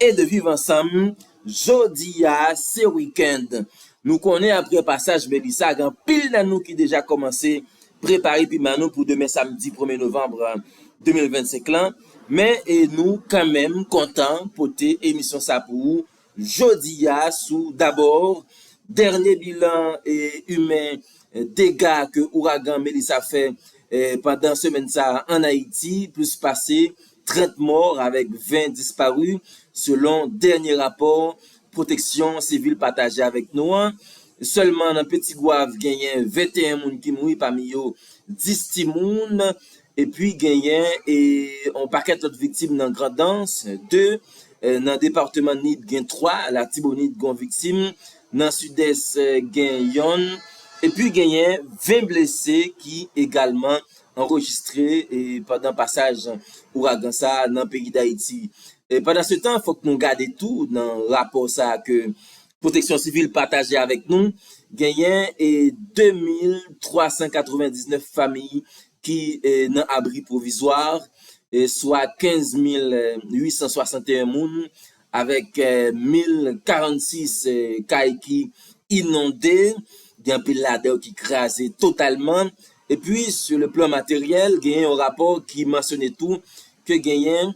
e de viv ansanm jodi a se weekend nou konnen aprè pasaj Melissa gen anpil nan nou ki deja kòmanse prepare piman nou pou demen samdi premye novanm 2025 lan men e nou kanmenm kontan pote emisyon sa pou ou jodi a sou dabò dènye bilan e imen dega ke ouragan Melissa fè pandan semèn sa an Ayiti plis pase 30 mò avèk 20 dispari selon dènye rapò pwoteksyon sivil pataje avèk nou an. Sèlman nan Petit-Goâve genyen 21 moun ki mouri pami yo 10 timoun epi genyen yon pakèt lòt viktim nan Grandans 2, nan departeman Nip gen 3, Latibonit gen yon viktim, nan Sidès gen yonn epi genyen 20 blese ki egalman anrejistre pandan pasaj ouragan sa a nan peyi Dayiti. Pandansetan, fòk nou gade tou nan rapò sa a ke Pwoteksyon Sivil pataje avèk nou, genyen 2399 fami ki nan abri pwovizwa, swa 15861 moun Avèk 1046 kay ki inonde, gen anpil ladan yo ki kraze totalman. Epi sou le plan materyèl, genyen yon rapò ki mansyone tou ke genyen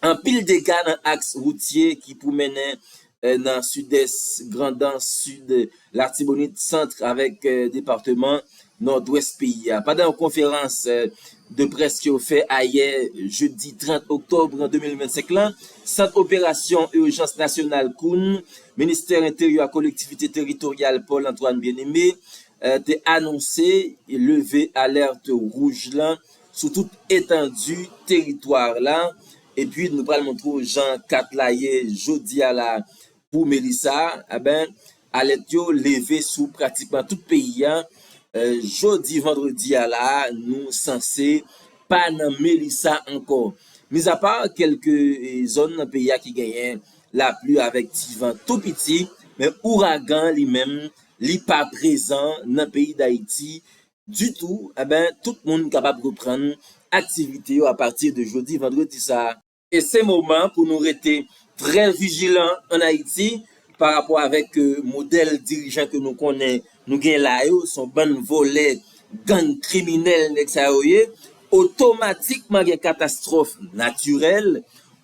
anpil dega nan aks woutye ki pou mennen nan sidès, grandans, sid, latibonit, sant avèk departeman nòdwès peyi a. Pandan yon konferans de près ke yo fè ayè jedi 30 oktòb 2025 la, Sant Operasyon Ijans Nasyonal Kounn, Ministè Enteryè ak Kolektivite Teritoryal Paul Antoine Bien-Aimé, te anonse leve alèt wouj lan sou tout etandi teritwa la, epi nou pral montre w jan kat la ye jodi a la a. pou Melissa a ben alèt yo leve sou pratikman tout peyi a jodi vandredi a la a nou sanse pa nan Melissa ankò mizapa kèlke zòn nan peyi a ki genyen lapli avèk ti van tou piti men ouragan li menm li pa prezan nan peyi Dayiti ditou a ben tout moun kapab reprann aktivite yo apati de jodi vandredi sa a. E se moman pou nou rete trè vijilan an Ayiti pa rapò avèk modèl dirijan ke nou konnen nou gen la yo, se yon bann vòlè, gang, kriminèl nèg sa yo ye. Otomatikman gen katastwòf natirèl,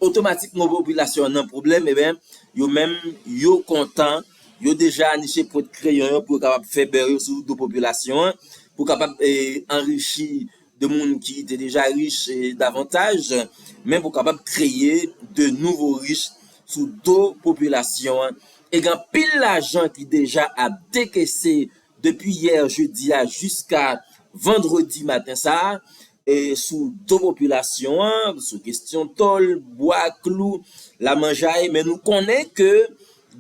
otomatikman popilasyon an nan pwoblèm, eben yo menm yo kontan, yo deja niche pwent kreyon yo pou yo kapab fè bè yo sou do popilasyon an, pou kapab anrichi. de moun ki te deja rich davantaj, men pou kapab kreye de nouvo rich sou do popilasyon an e gen anpil lajan ki deja ap dekese depi yè jedi a jiska vandredi maten sa a sou do popilasyon an sou kestyon tòl, bwa, klou, lamanjay men nou konnen ke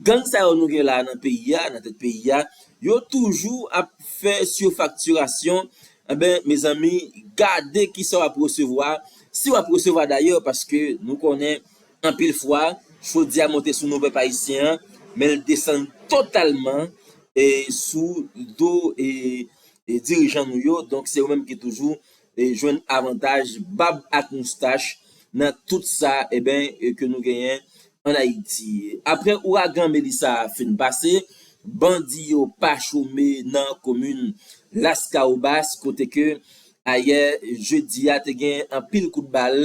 gang sa yo nou gen la nan peyi a, nan tèt peyi a yo toujou ap fè sifaktirasyon Enben mezanmi gade kisa wap resevwa si wap resevwa dayè paske nou konnen anpil fwa chodi a monte sou nou pèp ayisyen an men l desann totalman sou do dirijan nou yo donk se yo menm ki toujou jwenn avantaj bab ak moustach nan tout sa enben ke nou genyen an Ayiti. Aprè ouragan Melissa a fin pase, bandi yo pa chome nan komin Laskawobas kote ke ayè jedi a te gen anpil kout bal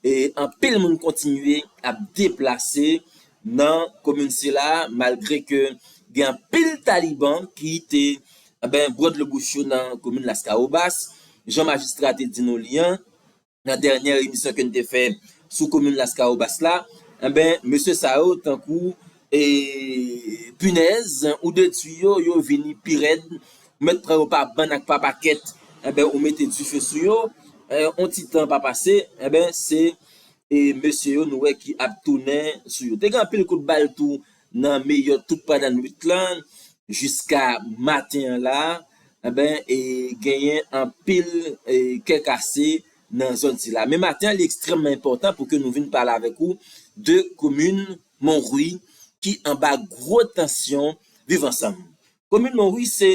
e anpil moun kontinye ap deplase nan komin sila malgre ke gen anpil taliban ki te bwodlo bouch yo nan komin Laskawobas, jan majistra te di nou li an. nan dènyè emisyon ke n te fè sou komin Laskawobas la, enben mesye sa yo tankou pinèz ou de tui yo, yo vini pi rèd, ou mèt pran yo pa bann ak pa pakèt, enben ou mete dife sou yo, yon ti tan pa pase, enben se mesye yo nou wè ki ap tounen sou yo. Te gen anpil kout bal tou Nan meyè tout pandan nwit lan jiska maten an la enben e genyen anpil kè kase nan zòn sila. Men maten an li ekstrèmman enpòtan pou ke nou vin pale avèk ou de komin Monrwi ki anba gwo tansyon viv ansanm Komin Monwi se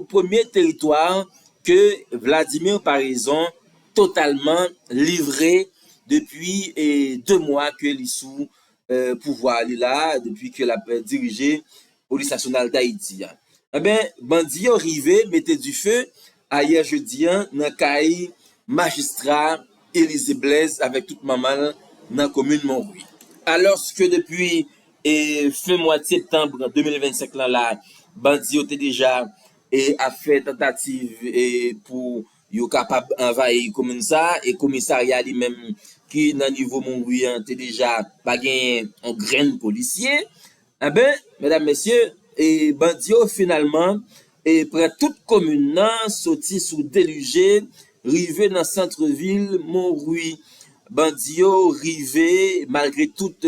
premye teritwa ke Vladimir Paraison totalman livre depi 2 mwa ke li sou pouvwa li la, depi ke lap dirije Polis Nasyonal Dayiti a. Enben, bandi yo rive mete dife Ayè jedi an nan kay majistra Elize Blèz avèk tout manman l nan komin Monwi. Alòske depi fen mwad septanb 2025 lan la bandi yo te deja ap fè tantativ pou yo kapab anvayi komin sa e komisarya li menm ki nan nivo Monwi an te deja pa genyen yon grenn polisye Enben, medam mesye, e bandi yo finalman e pran tout komin nan soti sou Delije rive nan centre ville Monrui. Bandi yo rive malgre tout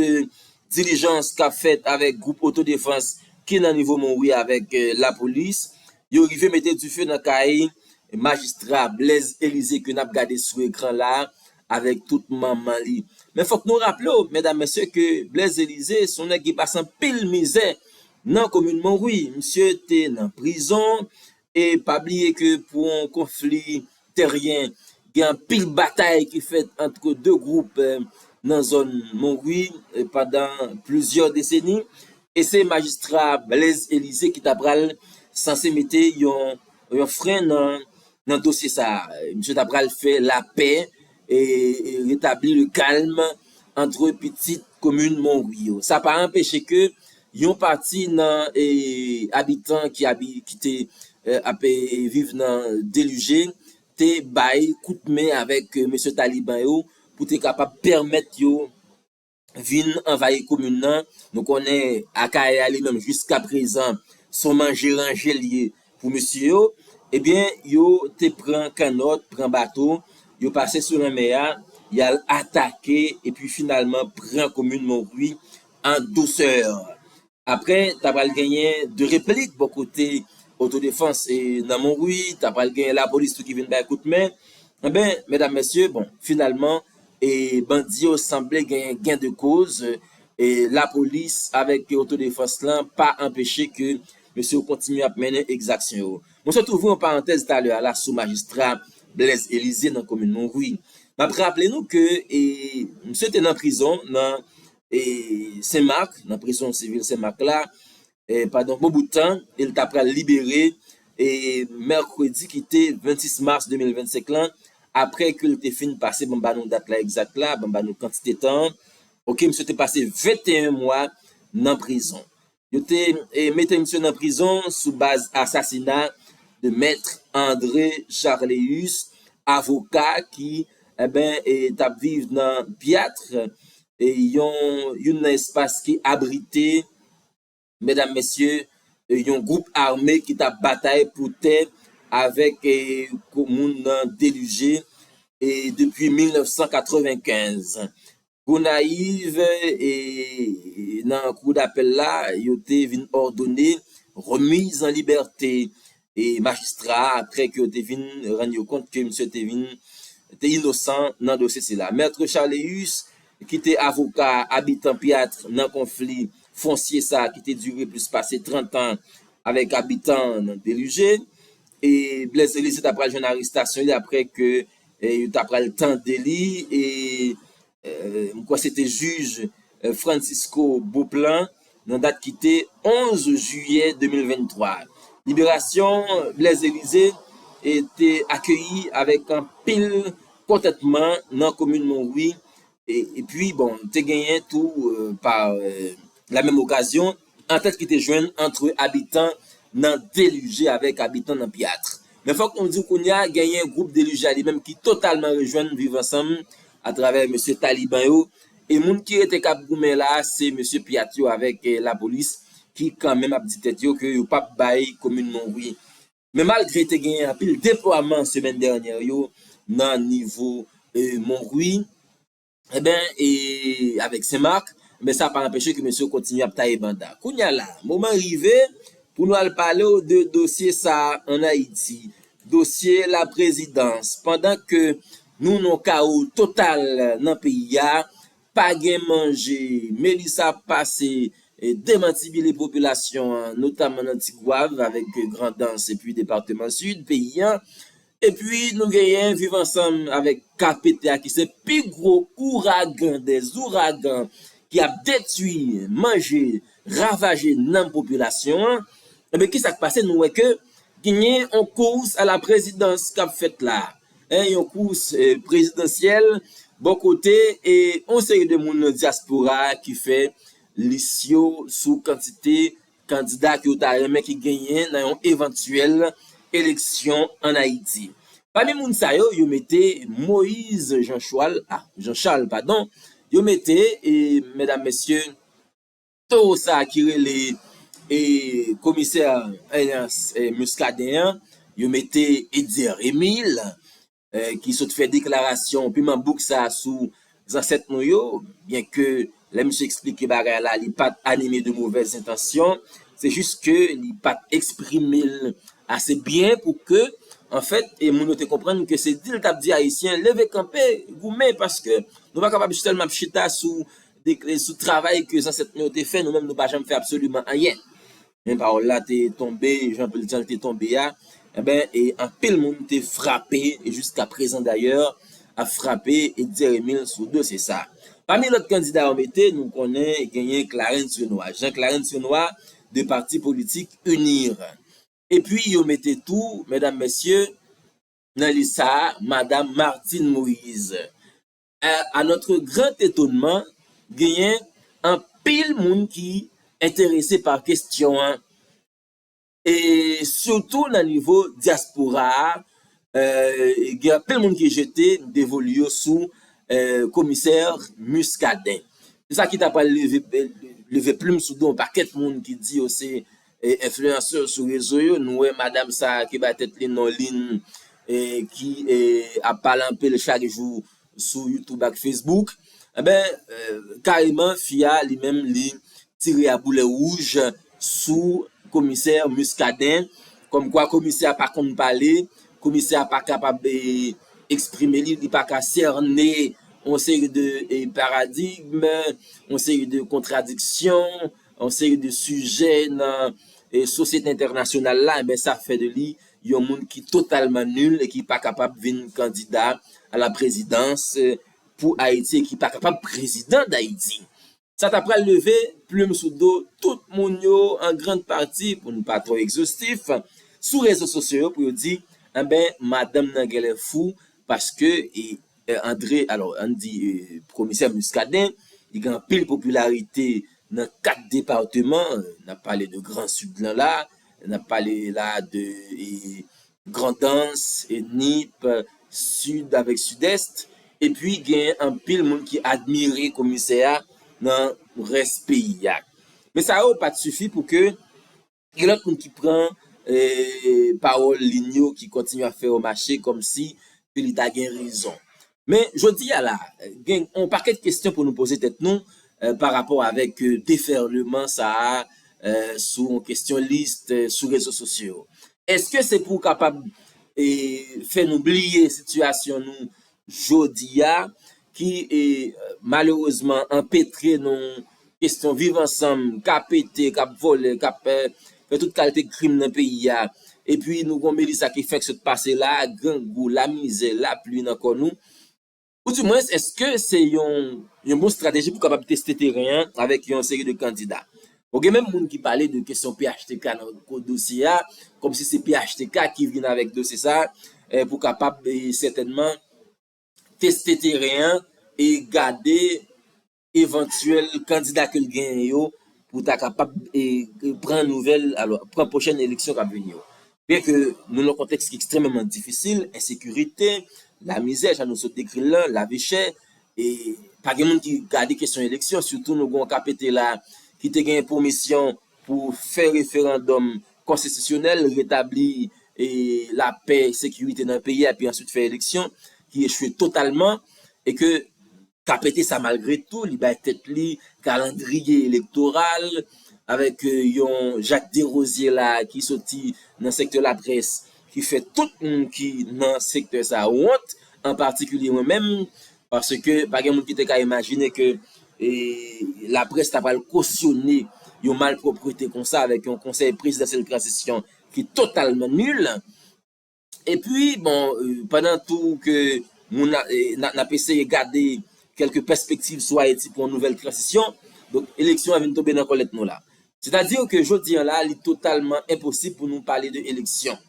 dilijans kap fèt avèk group otodefans ki nan nivo Monrui avèk lapolis, yo rive mete dife nan kay majistra Blaise Elysée ke nap gade sou ekran la avèk tout manman li. Men fòk nou raple w, medam mesye, ke Blaise Elize se yon nèg ki pase anpil mizè nan komin Monwi. Misye te nan prizon, e pa bliye ke pou yon konfli teryen, gen anpil batay ki fèt antre 2 gwoup nan zòn Monwi pandan plizyè deseni, e se majistra Blaise Elize ki ta pral sanse mete yon yon frè nan dosye sa a. Misye ta pral fè lapè e retabli le kalm antre pitit komin Monwi yo. Sa pa anpeche ke yon pati nan abitan ki te ap viv nan delije te bay kout men avèk mesye taliban yo pou te kapab pèmèt yo vin anvayi komin nan, nou konnen Akayè a li menm jiska prezan son manje ranje l ye pou mesye yo, ebyen yo te pran kannòt, pran bato, yo pase sou lanmè a, y al atake epi finalman pran komin Monwi an dousè. Aprè ta pral genyen 2 replik bò kote otodefans e nan Monwi, ta pral genyen lapolis tou ki vin bay kout men. Enben, medam mesye, bon, finalman, e bandi yo sanble genyen gen de koz, e lapolis avèk otodefans lan pa anpeche ke mesye yo kontinye ap mennen ekzaksyon yo. Mwen sot ouvri yon parantèz talè a la sou majistra Blèz Elize nan komin Monwi. Map raple nou ke e misye te nan prizon nan Sen Mak, nan prizon sivil Sen Mak la, pandan yon bon bout tan, e li ta pral libere mèkredi ki te 26 mas 2025 lan, aprè ke li te fin pase, banm ba nou dat la egzat la, banm ba nou kantite tan an, ok, misye te pase 21 mwa nan prizon. Yo te mete misye nan prizon sou baz asasina de Maître André Charléus, avoka ki t ap viv nan Piatre, youn nan espas ki abrite medam mesye yon gwoup ame ki t ap batay pou tè avèk komoun nan Delugé depi 1995. Gonayiv, Nan kou dapèl la, yo te vin òdone remiz an libète majistra a aprè ke yo te vin rann yo kont ke misye te vin te inosan nan dosye sila. Maître Charléus ki te avoka abitan Pyat nan konfli fonsye sa ki te dire plis pase 30 an avèk abitan Delugé e Blaise Elizier ta pral jwenn arestasyon li aprè ke Yo ta pral tande li e m kwè se te jij Francisco Beauplan nan dat ki te 11 jiyè 2023. Liberasyon Blaise Elize te akeyi avèk anpil kontantman nan komin Monwi Epi bon, te genyen tou pa la menm okazyon, antant ki te jwenn antre abitan nan Delije avèk abitan nan Pyatre. Men fòk nou di w kounye a genyen gwoup Delije a li menm ki totalman rejwenn Viv Ansanm atravè mesye Taliban yo e moun ki rete k ap goumen la a se mesye Pyat yo avèk lapolis ki kan menm ap di tèt yo ke yo p ap bay komin Monwi Men malgre te genyen anpil deplwaman semèn dènyè yo nan nivo Monrwi enben e avèk Senmak enben sa pa anpeche ke mesye yo kontinye ap taye banda. Kounye a la a, moman rive pou nou al pale w de dosye sa a an Ayiti, dosye laprezidans pandan ke nou nan yon kawo total nan peyi a, Pa gen manje! Melissa ap pase demantibile popilasyon an, notaman nan Tigwav avèk Grandans epi departeman Sid peyi an. Epi nou genyen Viv Ansanm avèk KPT a ki se pi gwo ouragan dè zouragan ki ap detui, manje, ravaje nanm popilasyon an. Enben, ki sa k pase? Nou wè ke genyen yon kous a la prezidans k ap fèt la. 1 yon kous prezidansyèl bò kote yon seri de moun nan dyaspora a ki fè lis yo sou kantite kandida ke yo ta renmen ki genyen nan yon evantyèl eleksyon an Ayiti. Pami moun sa yo, yo mete Moise Jean Chwal, ah Jean Charles padon, yo mete medam mesye, Towo sa ki rele e komisè Muscadin an yo mete Etzer Emile ki sot fè deklarasyon piman bouk sa sou zansèt nou yo byen ke lè misye eksplike bagay la li pat anime de movèz entansyon se jis ke li pat eksprime l ase byen pou ke an fèt e moun yo te konprann ke se di l tap di ayisyen leve kanpe goumen paske nou pa kapab sèlman ap chita sou deklre sou travay ke zansèt nou yo te fè, nou menm nou pa janm fè absoliman anyen. Men pawòl la te tonbe jan jan l te tonbe a, enben e anpil moun te frape e jiska prezan dayè ap frape Dzeremil sou dosye sa. Pami lòt kandida yo mete, nou konnen genyen Clarens Renois, Jean Clarens Renois de pati politik UNIR. Epi yo mete tou, medam mesye, nan lis sa a, madam Martine Moïse. A notre grand etonman, genyen anpil moun ki enterese pa kestyon an, e sitou nan nivo dyaspora a, gen anpil moun ki jete devolu yo sou komisè Muscadin. Se sa ki ta pral leve plum sou do yon pakèt moun ki di yo se Enfliyansè sou rezo yo, nou wè madam sa a ki bay tèt li non Lynn ki ap pale anpil chak jou sou YouTube ak Facebook, enben kareman fi a li menm li tire a boulè wouj sou komisè Muscadin kòmkwa komisè a pa konn pale, komisè a pa kapab eksprime li, li pa ka sène yon seri de paradigm, yon seri de kontradiksyon. yon seri de sijè nan sosyete entènasyonal la, enben sa fè de li yon moun ki totalman nul e ki pa kapab vin kandida a la prezidans pou Ayiti e ki pa kapab prezidan Dayiti. Sa ta pral leve plim sou do tout moun yo an grand pati, pou n pa twò egzostif, sou rezo sosyo yo pou yo di, enben madanm nan genlè fou paske Andre, alò ann di komisè Muscadin, li gen anpil popilarite nan 4 departeman, n ap pale de gran sid lan la, n ap pale la de Grandans, Nip, Sid avèk Sidès, epi gen anpil moun ki admire komisè a nan rès peyi a. Men sa yo pa t sifi pou ke Gen lòt moun ki pran pawòl Lynn yo ki kontinye ap fè yo mache kòmsi ke li ta gen rezon. Men, jodi a la, gen yon pakèt kesyon pou nou poze tèt nou parapò avèk defèleman sa a sou yon kesyon lis sou rezo sosyo yo. Èske se pou kapab fè nou bliye sitiyasyon nou jodi a, ki malerezman anpetre nan yon kesyon viv ansanm k ap pete, k ap vole, k ap fè tout kalte krim nan peyi a. E pi nou gen yon Melisa ki fèk sot pase la a, grangou, lamizè, lapli nan kò nou. Ou di mwen, èske se yon bon estrateji pou kapab teste teren an avèk yon seri de kandida? Bon gen menm moun ki pale de kesyon phtk nan ko dosye a, kòm si se phtk ki vin avèk dosye sa pou kapab sètènman teste teren an e gade evantyèl kandida ke l genyen yo pou ta kapab pran nouvèl, alò pran pwochèn eleksyon k ap vini yo. Byenke nou nan yon kontèks ki ekstrèmeman difisil, ensekirite, lamizè jan nou sot dekri l lan, lavichè, e pa gen moun ki gade kesyon eleksyon, sitou nou gen yon KPT la ki te gen pou misyon pou fè referandòm konstitisyonèl, retabli lapè, sekirite nan peyi a epi answit fè eleksyon ki echwe totalman e ke ka pete sa malgre tou li bay tèt li kalandriye elektoral avèk yon Jacques Derosier la ki soti nan sektè laprès ki fè tout moun ki nan sektè sa wont an patikilye mwen menm paske pa gen moun ki te ka imajine ke laprès ta pral kosyone yon malpwoprete konsa avèk yon konsèy prezidansyèl tranzisyon ki totalman nul. Epi bon pandan tou ke moun nap eseye gade kèlke pèspektiv sou Ayiti pou yon nouvèl transisyon, donk eleksyon an vin tonbe nan kòlèt nou la. Sètadi ke jodi an la li totalman enposib pou nou pale de eleksyon.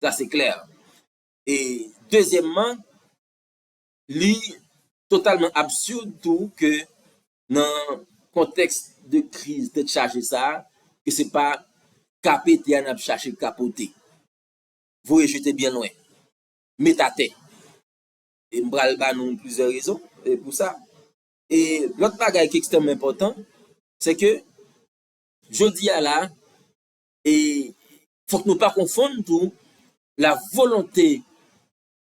Sa se klè. E dezyèmman, li totalman absurd tou ke nan kontèks de kriz tèt chaje sa a, ke se pa ka pete a nap chache kapote. voye jete byen lwen, met atè. E m pral ba nou plizyè rezon pou sa. E lòt bagay ki ekstrèmman enpòtan, se ke jodi a la, e fòk nou pa konfonn tou la volonte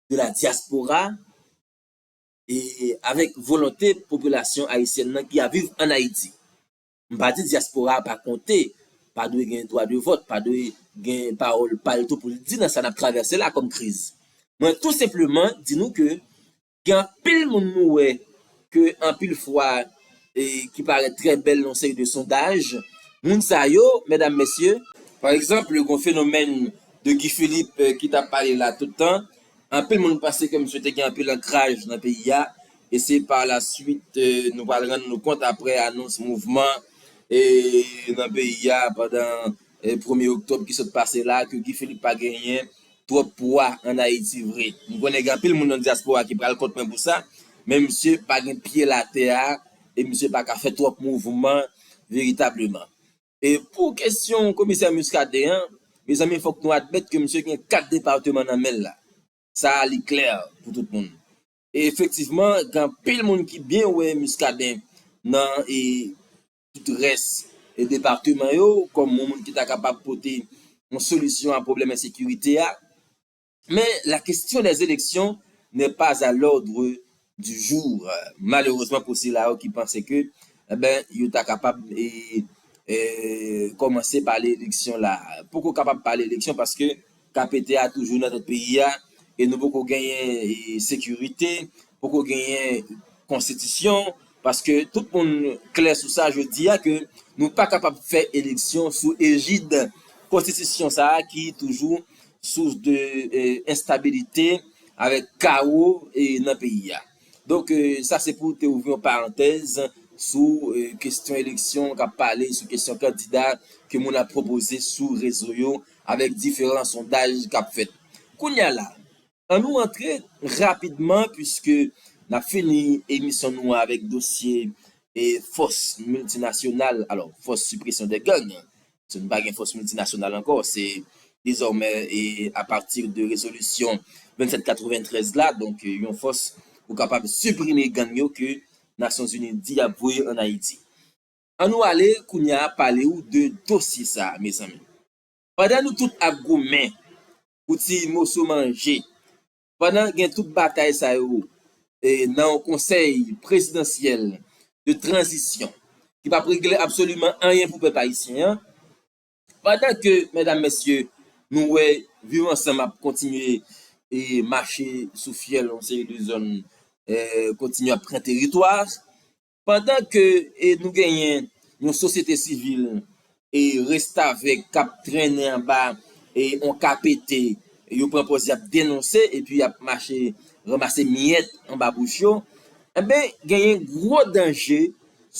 de la diaspora e avèk volonte popilasyon ayisyèn nan ki ap viv an Ayiti. M pa di dyaspora a pa konte, pa dwe gen dwa de vòt, pa dwe gen pawòl pa l tou pou l di nan sa n ap travèse la kòm kriz. Mwen tou senpleman di nou ke gen anpil moun nou wè ke anpil fwa ki parèt trè bèl nan yon seri de sondaj, moun sa yo, medam, mesye, pa egzanp gen yon fenomèn de Guy Philippe ki t ap pale la tout tan, anpil moun panse ke misye te gen anpil ankraj nan peyi a, e se pa la swit nou pral rann nou kont aprè anons mouvman nan peyi a pandan premye oktòb ki sot pase la ke Guy Philippe pa genyen twòp pwa an Ayiti vre. M konnen gen anpil moun nan dyaspora ki pral kont mwen pou sa, men misye pa gen pye l atè a e misye pa ka fè twòp mouvman veritableman. E pou kesyon komisè Muscadin an, mezanmi fòk nou admèt ke misye gen 4 departeman nan men l la. Sa a li klè pou tout moun. Efektivman gen anpil moun ki byen wè Muscadin nan tout rès departeman yo kòm yon moun ki ta kapab pote yon solisyon a pwoblèm ensekirite a. Men la question des élections n'est pas à l'ordre du jour malerezman pou sila yo ki panse ke yo ta kapab kòmanse pale eleksyon la. Poko kapab pale eleksyon paske Ka pete a toujou nan tèt peyi a e nou poko genyen sekirite, poko genyen konstitisyon paske tout moun klè sou sa jodi a ke nou pa kapab fè eleksyon sou ejid konstitisyon sa a ki toujou sous de enstabilite avèk kawo nan peyi a. Donk sa se pou te ouvri yon parantèz sou kestyon eleksyon kap pale sou kestyon kandida ke moun ap pwopoze sou rezo yo avèk diferan sondaj k ap fèt kounye a la. An nou antre rapidman puiske n ap fini emisyon nou an avèk dosye fòs miltinasyonal, alò fòs sipresyon dè gang, puiske nou pa gen fòs miltinasyonal ankò, se dezòmè e apati de rezolisyon 2793 la, donk yon fòs pou kapab siprime gang yo ke Nasyonzini di y ap voye ann Ayiti. An nou ale kounya pale ou de dosye sa mezanmi. Pandan nou tout ap goumen pou ti moso manje, pandan gen tout batay sa yo nan yon konsèy prezidansyèl de tranzisyon ki pap regle absoliman anyen pou pèp ayisyen an, pandan ke medam mesye nou wè viv ansanm ap kontinye mache sou fyèl yon seri de zòn kontinye ap pran teritwa, Pandan ke nou genyen yon sosyete sivil restavèk k ap trennen anba yon kapete, yo pran pòz y ap denonse epi y ap mache ranmase miyèt anba bouch yo, enben genyen gwo danje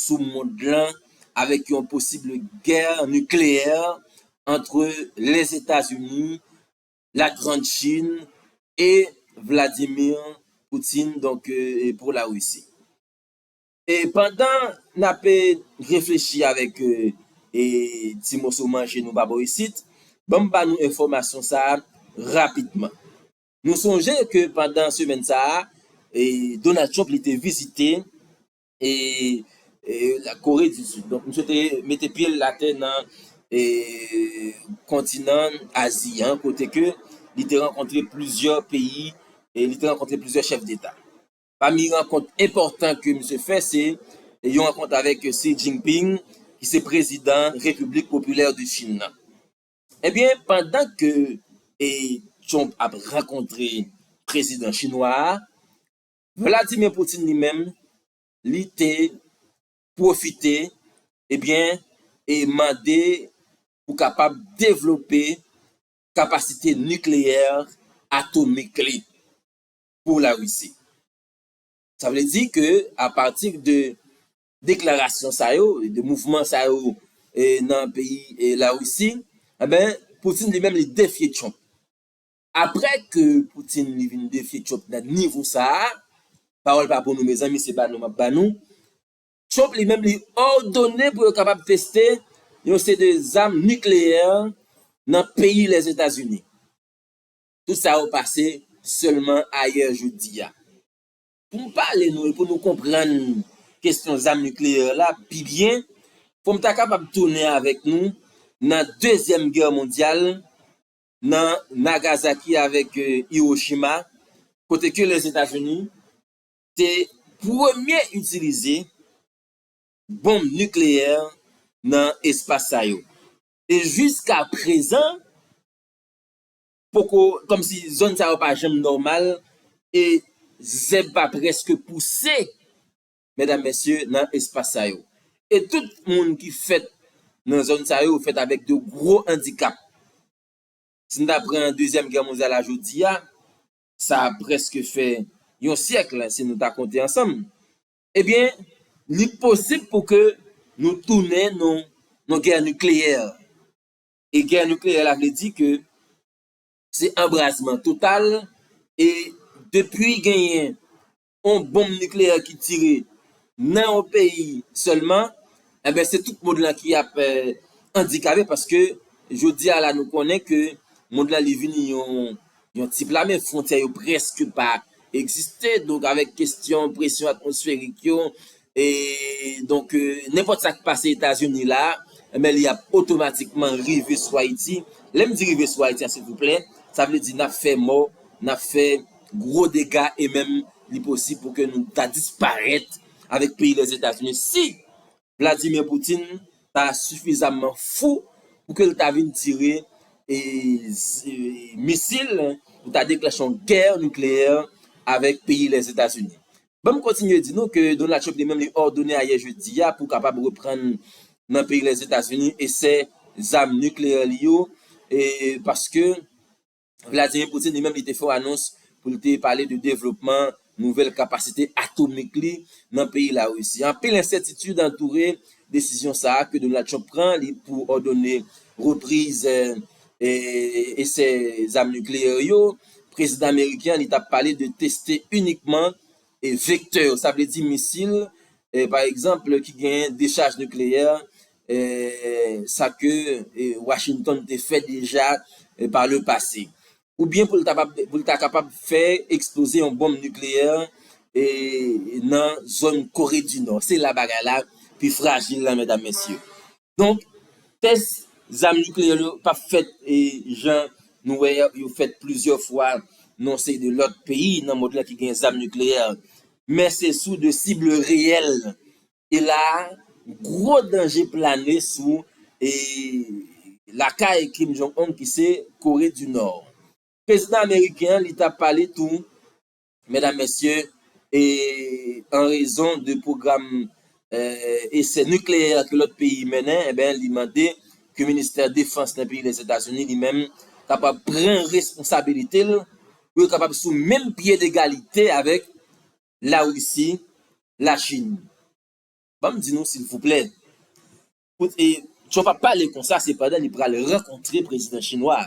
sou mond lan avèk yon posible gè nikleyè antre Lèzetazini, La Grand Chin e Vladimir Poutine donk pou Larisi. E pandan n ap reflechi avèk ti moso manje nou pa bò isit, ban m ba nou enfòmasyon sa a rapidman. Nou sonje ke pandan semèn sa a, Donald Trump li te vizite Kore di Sid. Donk misye te mete pye l atè nan kontinan Azi an kote ke li te rankontre plizyè peyi e li te rankontre plizyè chèf deta. Pami rankont enpòtan ke misye fè se yon rankont avèk Xi Jinping ki se prezidan Repiblik Popilè de Chin nan. Ebyen pandan ke Trump ap rankontre prezidan chinwa a, Vladimir Putin li menm li te pwofite ebyen e mande pou kapab devlope kapasite nikleyè atomik li. pou la Risi. Sa vle di ke a pati de deklarasyon sa yo, de mouvman sa yo nan peyi la Risi, enben Putin li menm li defye Trump. Aprè ke Putin li vin defye Trump nan nivo sa a, pawòl pa pou nou mezanmi se ba nou map ba nou, Trump li menm li òdone pou yo kapab teste yon seri de zam nikleyè nan peyi Lèzetazini. Tout sa yo pase sèlman ayè jodi a. Pou m pale nou e pou nou konprann kesyon zam nikleyè la pi byen, fò m ta kapab tounen avèk nou nan dezyèm gè mondyal, nan Nagazaki avèk Iwochima, kote ke Lèzetazini te premye itilize bonm nikleyè nan espas sa yo. E jiska prezan, poko kòm si zòn sa yo pa janm nòmal e zèb pa prèske pouse medam mesye nan espas sa yo e tout moun ki fèt nan zòn sa yo fèt avèk de gwo andikap si n ta pran dezyèm gè mondyal a jodi a sa prèske fè yon syèk si nou ta konte ansanm e byen li posib pou ke nou tounen nan yon gè nikleyè. e gè nikleyè la vle di ke se anbrazman total e depi genyen yon bonm nikleyè ki tire nan yon peyi sèlman enben se tout mond lan ki ap andikape paske jodi a la nou konnen ke mond lan li vini yon Yon ti pla men fwontyè yo prèske pa egziste donk avèk kestyon presyon atmosferik yo e donk nenpòt sa k pase Etazini la enben li ap otomatikman rive sou Ayiti. Lè m di rive sou Ayiti a silvouplè sa vle di n ap fè mò, n ap fè gwo dega e menm li posib pou ke nou ta disparèt avèk peyi Lèzetazini si Vladimir Putin ta sifizamman fou pou ke l ta vin tire misil pou ta deklanche yon gè nikleyè avèk peyi Lèzetazini. Ban m kontinye di nou ke Donald Trump li menm li òdone ayè jedi a pou kapab reprann nan peyi Lèzetazini esè zam nikleyè li yo paske Vladimir Putin li menm li te fè yon anons pou l te pale de devlopman nouvèl kapasite atomik li nan peyi Larisi. Anpil ensètitid antoure desizyon sa a ke Donald Trump pran li pou òdone repriz esè zam nikleyè yo. Prezidan ameriken an li t ap pale de teste inikman Vektè yo, sa vle di misil, pa egzanp, ki genyen dechaj nikleyè, sa ke Washington te fè deja pa le pase. Oubyen pou l ta kapab fè eksploze yon bonm nikleyè nan zòn Kore di Nò. Se la bagay la pi frajil la, medam mesye. Donk, tès zam nikleyè yo pa p fèt jan nou wè a, yo fèt plizyè fwa nan yon seri de lòt peyi nan mond lan ki gen zam nikleyè. Men se sou de sib reyèl. E la a, gwo danje plane sou lakay Kim Jong Un ki se Kore di Nò. Prezidan ameriken an li ta pale tou Medam mesye e an rezon de pwogram esè nikleyè ke lòt peyi mennen e ben li mande ke ministè defans nan peyi Lèzetazini li menm kapab pran responsabilite l pou yo kapab sou menm pye degalite avèk Larisi, Lachin. Ban m di nou silvouplè kot e Trump ap pale konsa sepandan li pral rankontre prezidan chinwa a.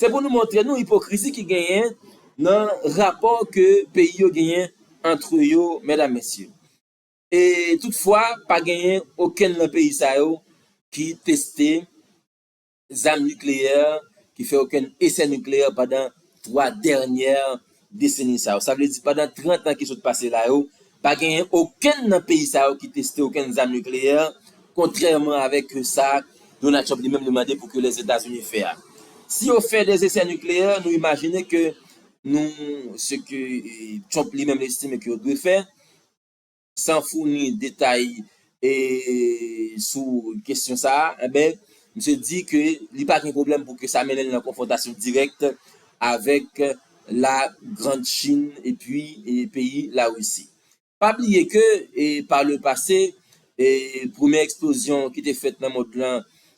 Se pou nou montre nou ipokrizi ki genyen nan rapò ke peyi yo genyen antre yo medam mesye. E tout fwa pa genyen okenn nan peyi sa yo ki teste zam nikleyè, ki fè okenn esè nikleyè pandan 3 dènyè Deseni sa yo, sa vle di pandan 30 an ki sot pase la yo, pa genyen okenn nan peyi sa yo ki teste okenn zam nikleyè, kontrèman avèk sa Donald Trump li menm li mande pou ke Lèzetazini fè a. Si yo fè de zesè nikleyè, nou imajine ke nou, se ke Trump li menm li estime ke yo dwe fè, San founi detay sou kesyon sa a, enben, misye di ke li pa gen pwoblèm pou ke sa mennen l nan konfwontasyon dirèk avèk La Grand Chin epi peyi La Risi. Pa bliye ke pa le pase, premye eksplozyon ki te fèt nan mond lan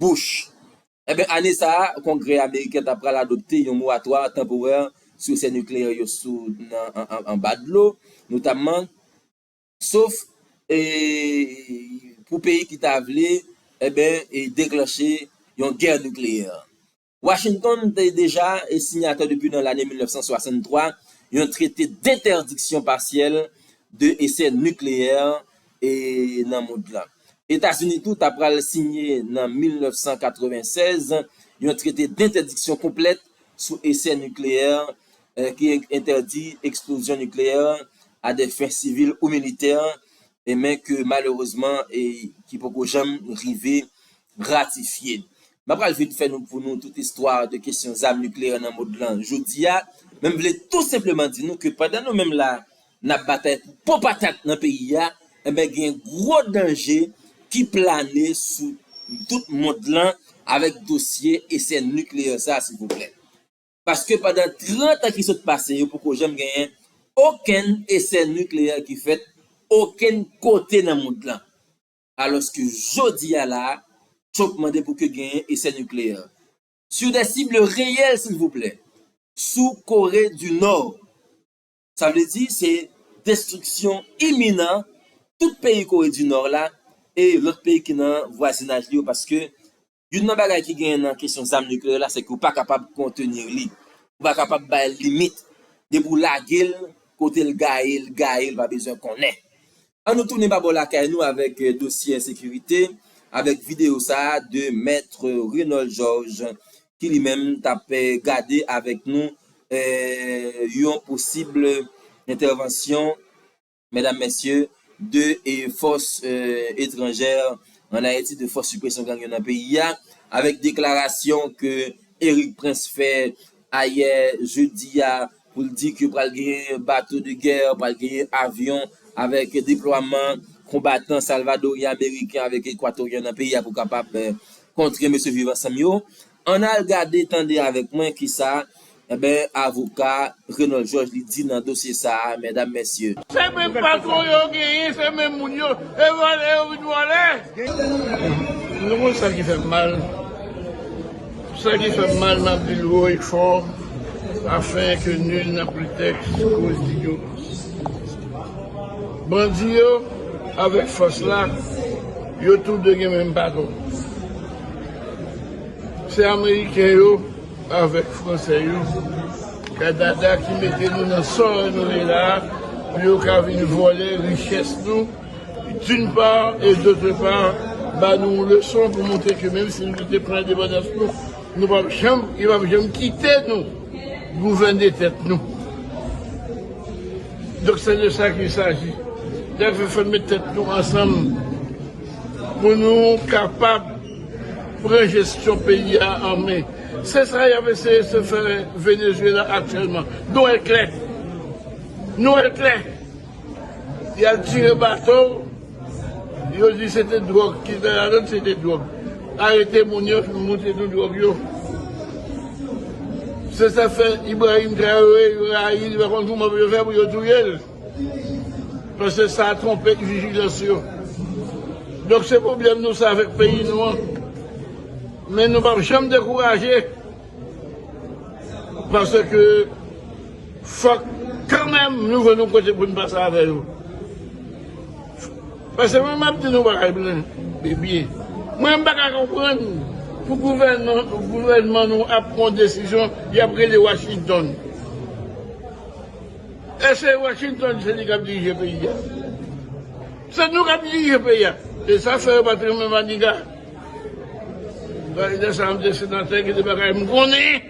Bush. Enben, ane sa a, Kongrè ameriken ta pral adopte yon moratwa tanporè sou esè nikleyè yo sou nan anba dlo, notamman, sof e pou peyi ki ta vle, enben, deklanche yon gè nikleyè. Washington te deja sinyatè depi nan lane 1963 yon trete denterdiksyon pasyèl de esè nikleyè nan mond lan. Etazini tou ta pral sinye nan 1996 yon trete dentèdiksyon konplèt sou esè nikleyè ki entèdi eksplozyon nikleyè a dè fen sivil ou militè men ke malerezman ki poko janm rive gratifye n. Mwen pral vin fè nou pou nou tout istwa de kesyon zam nikleyè nan mond lan jodi a, men m vle tou senpleman di nou ke pandan nou menm la n ap batay pou po patat nan peyi a, enben gen gwo danje ki plane sou tout mond lan avèk dosye esè nikleyè sa silvouplè. Paske pandan 30 an ki sot pase yo poko janm genyen okenn esè nikleyè ki fèt okenn kote nan mond lan. alòske jodi a la a Trump mande pou ke genyen esè nikleyè. Sur des cibles réelles silvouplè, sou Kore du Nò. Sa vle di se destriksyon iminan tout peyi Kore du Nò la e lòt peyi ki nan vwazinaj li yo paske Youn nan bagay ki genyen nan kesyon zam nikleyè la se ke ou pa kapab kontenir li. Ou pa kapab bay l limit. Depi ou lage l, kote l gaye, l gaye, l pa bezwen konnen. An nou tounen pa bò lakay nou avèk dosye ensekirite, avèk videyo sa a de Maître Renold Georges ki li menm t ap gade avèk nou yon posib entèvansyon Medam mesye, de fòs etranjè an Ayiti, de fòs sipresyon gang yo nan peyi a, avèk deklarasyon ke Erik Prince fè ayè jedi a pou l di ke pral genyen bato de gè, pral genyen avyon avèk deplwaman konbatan salvadoryen, ameriken avèk ekwatoryen nan peyi a pou kapab kontre mesye Viv Ansanm yo. Ann al gade tande avèk mwen kisa enben avoka Renold Georges li di nan dosye sa a mèdam mèsye. Se menm patron yo genyen se menm moun yo e vòlè yo vin vòlè. Nou konn sa ki fèm mal sa ki fèm mal map dil wo e fò afin ke nul na pretèks koz di yo bandi yo avèk fòs la yo tou 2 gen menm patron. Se ameriken yo avek fransè yo kanada ki mete nou nan sa nou ye la pou yo ka vin vòlè richès nou d'une part et d'autre part ba nou yon leson pou montre ke menm si nou te pran endepandans nou nou pap janm yo pap janm kite nou gouvène tèt nou donk se de sa ki saji dèfè fè met tèt nou ansanm. Pou nou kapab pran jesyon peyi a an men. Se sa y ap eseye se fè Venezuela aktyèlman. Nou wè l klè. Nou wè l klè. Y al tire bato, yo di se te dwòg ki te ladan, se te dwòg. Arete moun yo, monte tout dwòg yo. Se sa k fè Ibrahim Traoré, yo rayi l, yo pa konn kouman pou yo fè pou yo touye l. Paske sa a twonpe vigilans yo. Donk se pwoblèm nou sa avèk peyi nou an. Men nou pap janm dekouraje. Paske fòk kanmenm nou jwenn yon kote pou nou pase avè yo. Paske mwen map di nou bagay byen. Mwen m pa ka konprann pou gouvènman nou ap pran desizyon yap rele Washington. Ese Washington se li kap dirije peyi a. Se nou kap dirije peyi a. Se sa fè yo pat renmen Maniga. Maniga sa yon desenatè ki te bagay m konnen.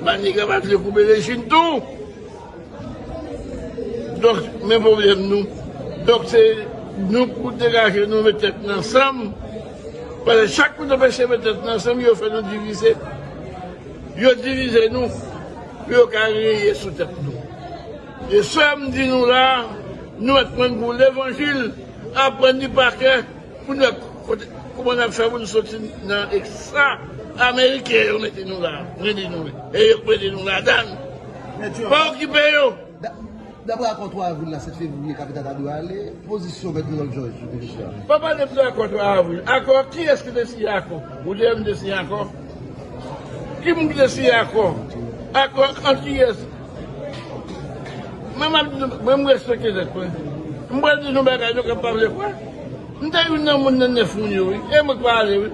Maniga pa vle koupe le chin tou. Donk men pwoblèm nou. Donk se nou pou degaje nou met tèt nou ansanm. Pase chak nou ta pese met tèt nou ansanm yo fè nou divize. Yo divize nou. Pou yo ka reye sou tèt nou. Frè sè m di nou la nou mèt pran gou levanjil aprann li pa kè pou nou wè kouman nap fè pou nou soti nan eksa ameriken yo mete nou la mwen di nou e yo k mete nou ladann pa okipe yo. Daprè akò 3 avril la 7 fevriye kapital ta dwe ale, pozisyon mèt Rinald Georges sou dosye a. Pa pale m de akò 3 avril. Akò? Kiyès ki te siyen akò? Ou te wè m te siyen akò? Ki moun ki te siyen akò? Akò ant kiyès? Men m ap di nou, mwen m respekte tèt mwen. M pral di nou bagay nou kab pa vle kwè. M te youn nan moun nan 9 moun yo wi. E mwen k pa ale wi.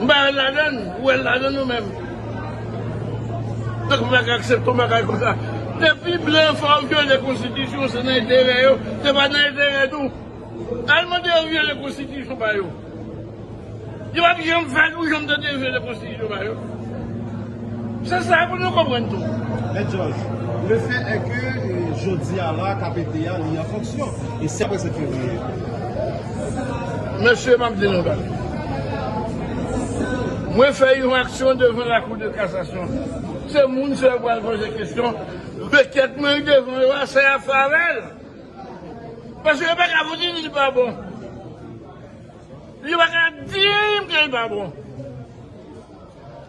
M pa wèl ladann, ou wèl ladann ou menm? Tankou la ka aksepte yon bagay konsa. Depi blan fè w vyole konstitisyon se nan enterè yo, se pa nan enterè nou. Al mande yo vyole konstitisyon pa yo. Yo pap janm fè l, ou janm tande yo vyole konstitisyon pa yo? Se sa pou nou konprann tou. Mèt Jòj, le fè è ke jodi a la KPT a li an fonksyon e si apre 7 fevriye? Mesye m ap di nou yon bagay. Mwen fè yon aksyon devan lakou de kasasyon. Se moun sa yo pral poze kesyon rekèt mwen yo devan yo a sa y ap fè avè l. Paske yo pa ka pou di li pa bon. Yo pa ka di anyen pou li pa bon.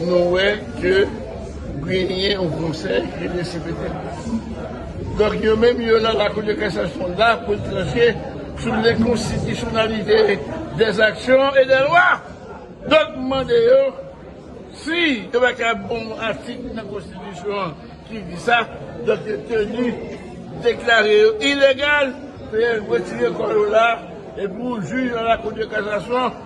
Nou wè ke genyen yon konsèy ki gen CPT. Donk yo menm yo la la kou de kasasyon la pou tranche sou le konstitisyonalite de zaksyon e de lwa. Donk m mande yo si yo pa ka bon yon atik nan konstitisyon an ki di sa, donk yo teni deklare yo ilegal, fè yo retire kò yo la, epi jou yon la kou de kasasyon.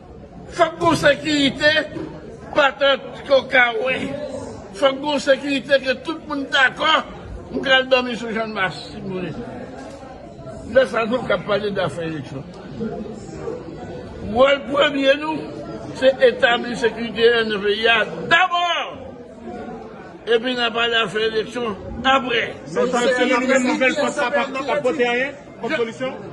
Fòk gon sekirite patant ke w ka wè. Fòk gon sekirite ke tout moun dakò. M pral dòmi sou Channmas si m vle. Lè sa nou ka pale dafè eleksyon. Wòl premye nou se etabli sekirite an nan peyi a dabò! Epi n a pale afè eleksyon aprè. Sa vle di se yon nouvèl pòs pa pote anyen?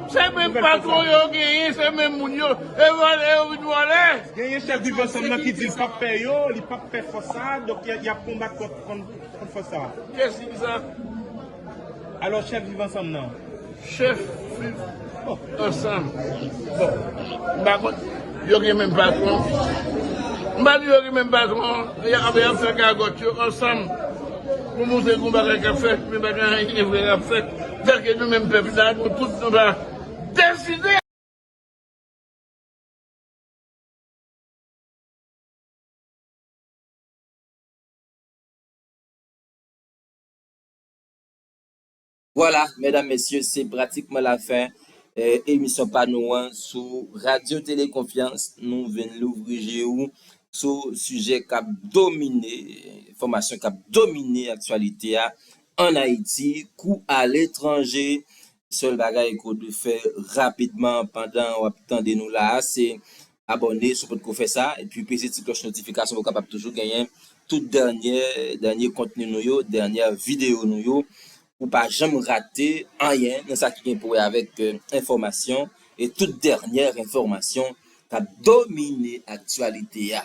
Se menm patron yo genyen, se menm moun yo, e vòlè yo vin vòlè. Genyen chèf viv ansanm nan ki di l pap pè yo, li pap pè fòs sa a, donk y ap konbat kont fòs sa a. Kyès ki di sa? Alò chèf viv ansanm nan? Chèf viv ansanm. Bon, m pa konn. Yo gen menm patron. M pa di yo gen menm patron, anben yap fè gagòt yo ansanm pou montre gon bagay kap fèt men pa gen anyen vre kap fèt tanke nou menm pèp sa nou tout nou ta deside. Vwala, medam mesye, se pratikman lafen emisyon pa nou an sou Radyo Tele Konfyans. Nou vin louvri je ou sou sijè k ap domine, enfòmasyon k ap domine aktyalite a ann Ayiti kou aletranje. Sèl bagay ke w dwe fè rapidman pandan w ap tande nou la a, se abòne si w potko fè sa epi peze ti klòch notifikasyon pou w kapab toujou genyen tout dènyè dènye kontni nou yo, dènyè videyo nou yo pou w pa janm rate anyen nan sa ki gen pou wè avèk enfòmasyon e tout dènyè enfòmasyon k ap domine aktyalite a.